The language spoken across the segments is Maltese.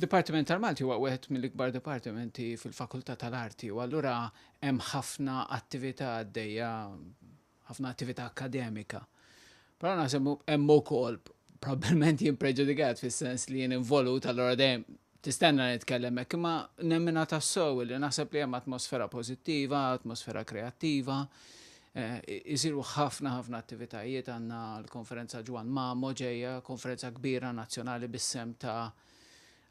Dipartiment tal-Malti huwa wieħed mill-ikbar dipartimenti fil-Fakultà tal-Arti u allura hemm ħafna attività għaddejja, ħafna attività akkademika. Però naħseb hemm ukoll probabbilment jien preġudikat fis-sens li jien involut allura dejjem tistenna nitkellem hekk, imma nemmina tassew li naħseb li hemm atmosfera pożittiva, atmosfera kreattiva, Isiru ħafna ħafna attivitajiet, għandna l-Konferenza Ġwann Mamo ġejja, konferenza kbira nazzjonali bis-sehem ta'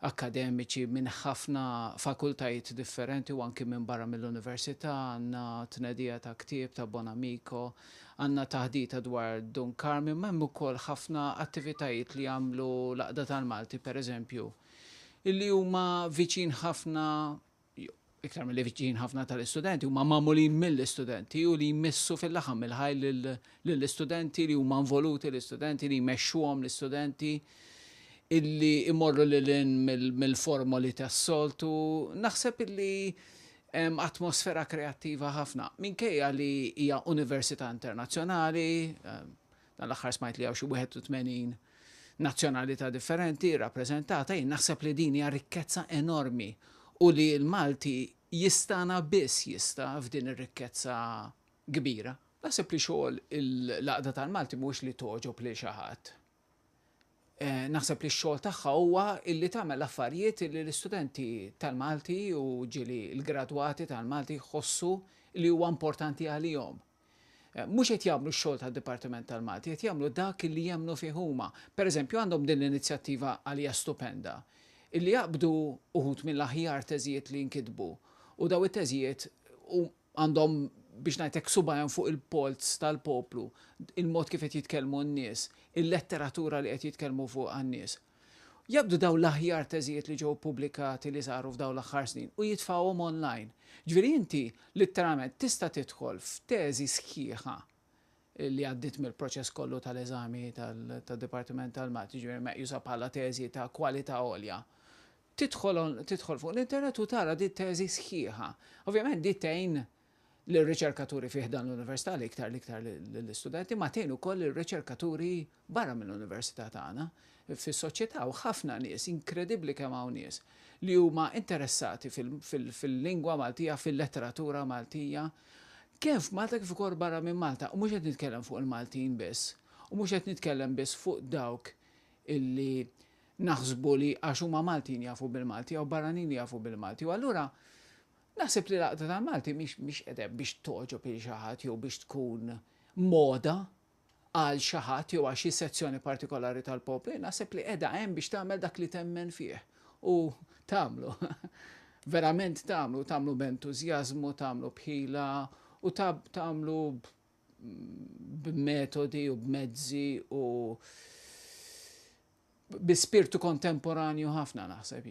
akkademiċi minn ħafna fakultajiet differenti u anki minn barra mill-Università, għandna tnedija ta' ktieb ta' Bonamico, għandna taħdita dwar Dun Karmien, ma' hemm ukoll ħafna attivitajiet li jagħmlu l-Għaqda tal-Malti, pereżempju, illi huma viċin ħafna iktar milli viċin ħafna tal-istudenti, huma magħmulin mill-istudenti u li jmissu fil-laħam mill-ħaj lill-istudenti li huma involuti l-istudenti li jmexxuhom l-istudenti illi imorru lil mill-formoli tas-soltu. Naħseb illi atmosfera kreattiva ħafna. Minkejja li hija università internazzjonali, Dan l-aħħar smajt li hawn xi 81 nazzjonalità differenti rrappreżentata, jien naħseb li din hija rikkezza enormi u li l-Malti jistana biss jista' f'din ir-rikkezza kbira. Naħseb li xogħol il-Għaqda tal-Malti mhuwiex li togħġob lil xi ħadd. Eh, naħseb li x-xogħol tagħha huwa illi tagħmel affarijiet li l-istudenti tal-Malti u ġili l-gradwati tal-Malti jħossu li huwa importanti għalihom. mhux qed jagħmlu x-xogħol tad-Dipartiment tal-Malti, qed jagħmlu dak li jemmnu fih huma. Pereżempju għandhom din l-inizjattiva għalija stupenda, illi jaqbdu uħud mill-aħjar teżijiet li nkitbu u daw it-teżijiet għandhom biex ngħid hekk subajhom fuq il-polz tal-poplu, il-mod kif qed jitkellmu n-nies, il-letteratura li qed jitkellmu fuqha n-nies. Jaqbdu dawn l-aħjar teżijiet li ġew ppubblikati li saru f'dawn l-aħħar snin u jitfgħuhom online. Ġifieri inti litteralment tista' tidħol f'teżi sħiħa li għaddiet mill-proċess kollu tal-eżami tad-Dipartiment tal-Math, jiġifieri meqjusa bħala teżi ta' kwalità għolja. Tidħol tidħol fuq l-internet u tara din it-teżi sħiħa. Ovvjament din tgħin lir-riċerkaturi fi ħdan l-Università l-iktar l-iktar lill-istudenti ma tgħin ukoll lir-riċerkaturi barra mill-Università tagħna fis-soċjetà hawn ħafna nies inkredibbli kemm hawn nies li huma interessati fil-lingwa Maltija fil-letteratura Maltija kemm f'Malta kif ukoll barra minn Malta u mhux qed nitkellem fuq il-Maltin biss u mhux qed nitkellem biss fuq dawk illi naħsbu li għax huma Maltin jafu bil-Malti jew barranin jafu bil-Malti u allura Naħseb li l-Għaqda tal-Malti mhix mhix qiegħda hemm biex togħġob lil xi ħadd jew biex tkun moda għal xi ħadd jew għal xi sezzjoni partikolari tal-poplu, naħseb li qiegħda hemm biex tagħmel dak li temmen fih u tagħmlu, verament tagħmlu, tagħmlu b'entużjażmu, tagħmlu b'ħila u tagħmlu b'metodi u b'mezzi u bi spirtu kontemporanju ħafna naħseb.